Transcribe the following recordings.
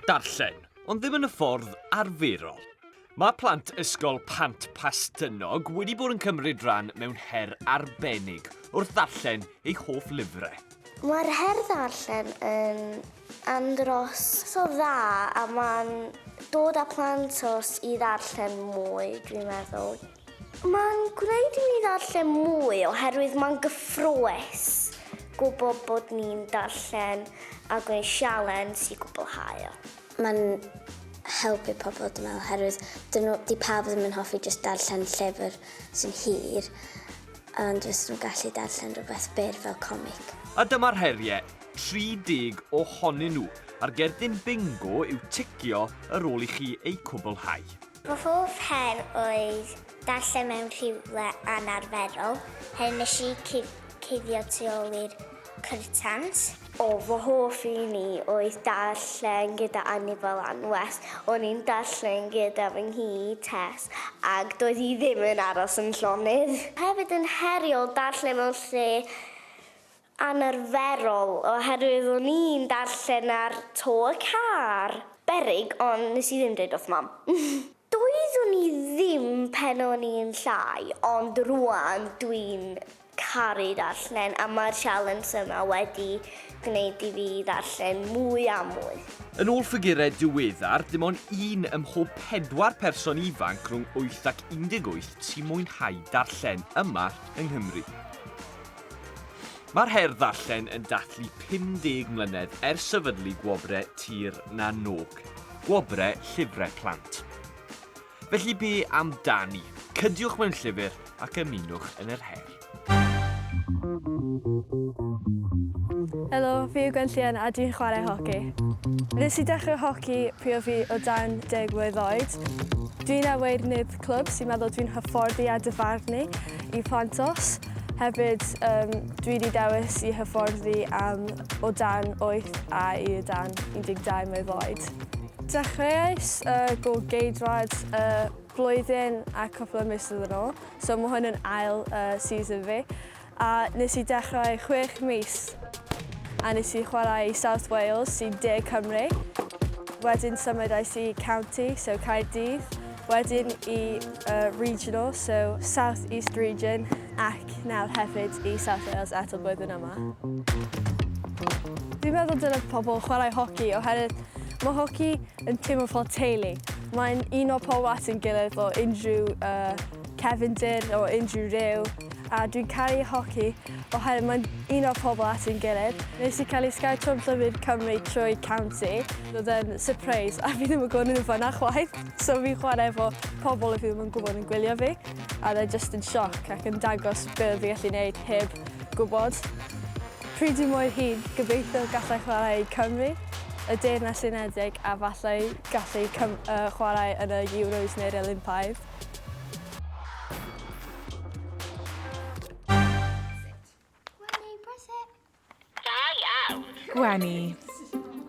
Darllen, ond ddim yn y ffordd arferol. Mae plant Ysgol Pant Pastynog wedi bod yn cymryd rhan mewn her arbennig wrth ddarllen eu hoff lyfrau. Mae'r her ddarllen yn andros o dda a mae'n dod â plant os i ddarllen mwy, dwi'n meddwl. Mae'n gwneud i mi ddarllen mwy oherwydd mae'n gyffrous gwybod bod ni'n darllen a gwneud sialens i gwblhau o. Mae'n helpu pobl dwi'n meddwl oherwydd dyn nhw... 'di pawb ddim yn hoffi jyst darllen llyfr sy'n hir ond fysen nhw'n gallu darllen rhywbeth byr fel comic. A dyma'r heriau, 30 ohonyn nhw, a'r gerdyn bingo yw ticio ar ôl i chi eu cwblhau. Fy hoff her oedd darllen mewn rhywle anarferol, her nes i cuddio tu ôl i'r cyrtans. O, fy hoff un i oedd darllen gyda Annie fel anwes. O'n i'n darllen gyda fy nghi, Tess, ac doedd hi ddim yn aros yn llonydd. Hefyd yn heriol darllen mewn lle anarferol oherwydd o'n i'n darllen ar to y car. Beryg, ond nes i ddim dweud wrth mam. Doeddwn i ddim pen o'n i'n llai, ond rwan dwi'n caru darllen a mae'r sialens yma wedi gwneud i fi ddarllen mwy a mwy. Yn ôl ffigurau diweddar, dim ond un ym mhob pedwar person ifanc rhwng 8 ac 18 sy'n mwynhau darllen yma yng Nghymru. Mae'r her ddarllen yn dathlu 50 mlynedd ers sefydlu Gwobrau Tir na n-Og, Gwobrau Llyfrau Plant. Felly be am dani? Cydiwch mewn llyfr ac ymunwch yn yr her. Helo, fi yw Gwenllian a dwi'n chwarae hoci. Nes i dechrau hoci pryd o fi o dan deg mlynedd oed. Dwi'n awyr nid clwb sy'n meddwl dwi'n hyfforddi a dyfarnu i plant os. Hefyd, um, dwi wedi dewis i hyfforddi am o dan 8 a i o dan 12 mlwydd oed. Dechreuais y uh, go geidwad y uh, flwyddyn a cwpl o misoedd yn ôl, so mae hwn yn ail uh, season fi. A nes i dechrau 6 mis a nes i chwarae i South Wales sy'n de Cymru. Wedyn symudais i county, so Caerdydd, Wedyn i uh, regional, so South East Region, ac nawr hefyd i South Wales eto blwyddyn yma. Dwi'n meddwl dylai pobl chwarae hoci oherwydd mae hoci yn teimlo fel teulu. Mae'n un o pobl at yn gilydd o unrhyw uh, cefndir o unrhyw rhyw a dwi'n caru hoci oherwydd mae'n un o pobl at yn gilydd. Nes i cael ei sgaetio'n llyfr Cymru trwy County. Roedd e'n surprise a fi ddim yn gwybod nhw'n fanna chwaith. So fi'n chwarae efo pobl y fi ddim yn gwybod yn gwylio fi, a oedd e jyst yn sioc ac yn dangos be oedd fi'n gallu neud heb gwybod. Pryd dwi mor hŷn, gobeithio gallai chwarae i Cymru, y Deyrnas Unedig a falle gallu cym- yy chwarae yn y Euros neu'r Olympaidd. Gwenny, press it. Da iawn. Gwenny,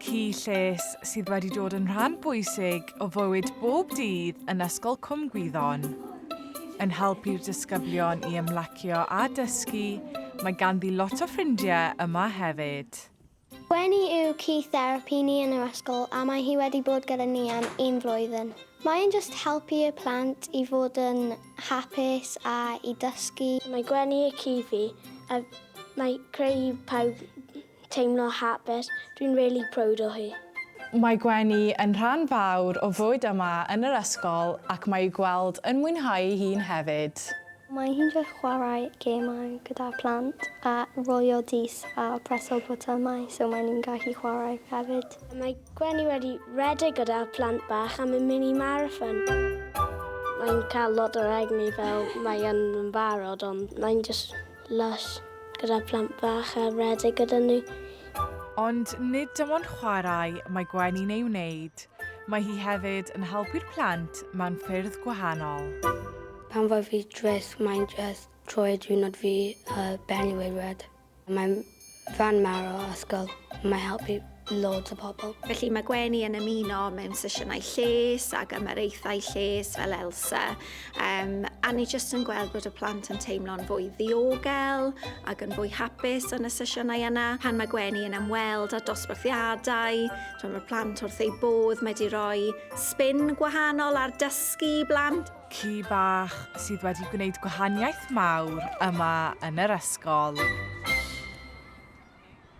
ci lles sydd wedi dod yn rhan bwysig o fywyd bob dydd yn Ysgol Cwm Gwyddon. Yn helpu'r disgyblion i ymlacio a dysgu, mae ganddi lot o ffrindiau yma hefyd. Gwenny yw ci therapi ni yn yr ysgol a mae hi wedi bod gyda ni am un flwyddyn. Mae e'n jyst helpu y plant i fod yn hapus a i dysgu. Mae Gwenny y ci fi a mae creu i pawb teimlo hapus. Dwi'n really proud o hi. Mae Gwenny yn rhan fawr o fywyd yma yn yr ysgol ac mae i'w gweld yn mwynhau ei hun hefyd. Mae hi'n wych chwarae gemau gyda phlant a rholio dys a preswyl botymau so maen nhw'n gallu chwarae hefyd. Mae Gwenny wedi rhedeg gyda phlant bach am y mini marathon. Mae'n cael lot o'r egni fel mae yn yn barod ond mae'n just lush gyda phlant bach a rhedeg gyda nhw. Ond nid dim ond chwarae mae Gwenny'n ei wneud, mae hi hefyd yn helpu'r plant mewn ffyrdd gwahanol. Pan fo fi drist mae'n jyst troi diwrnod fi a ben i weud red. Mae'n fan mawr o ysgol, mae'n helpu loads o pobl. Felly mae Gwenny yn ymuno mewn sesiynau lles ac ymyraethau lles fel Elsa um, a ni jyst yn gweld bod y plant yn teimlo'n fwy ddiogel ac yn fwy hapus yn y sesiynau yna. Pan mae Gwenny yn ymweld â dosbarthiadau, mae'r plant wrth eu bodd, mae wedi rhoi spin gwahanol ar dysgu blant. Ci bach sydd wedi gwneud gwahaniaeth mawr yma yn yr ysgol.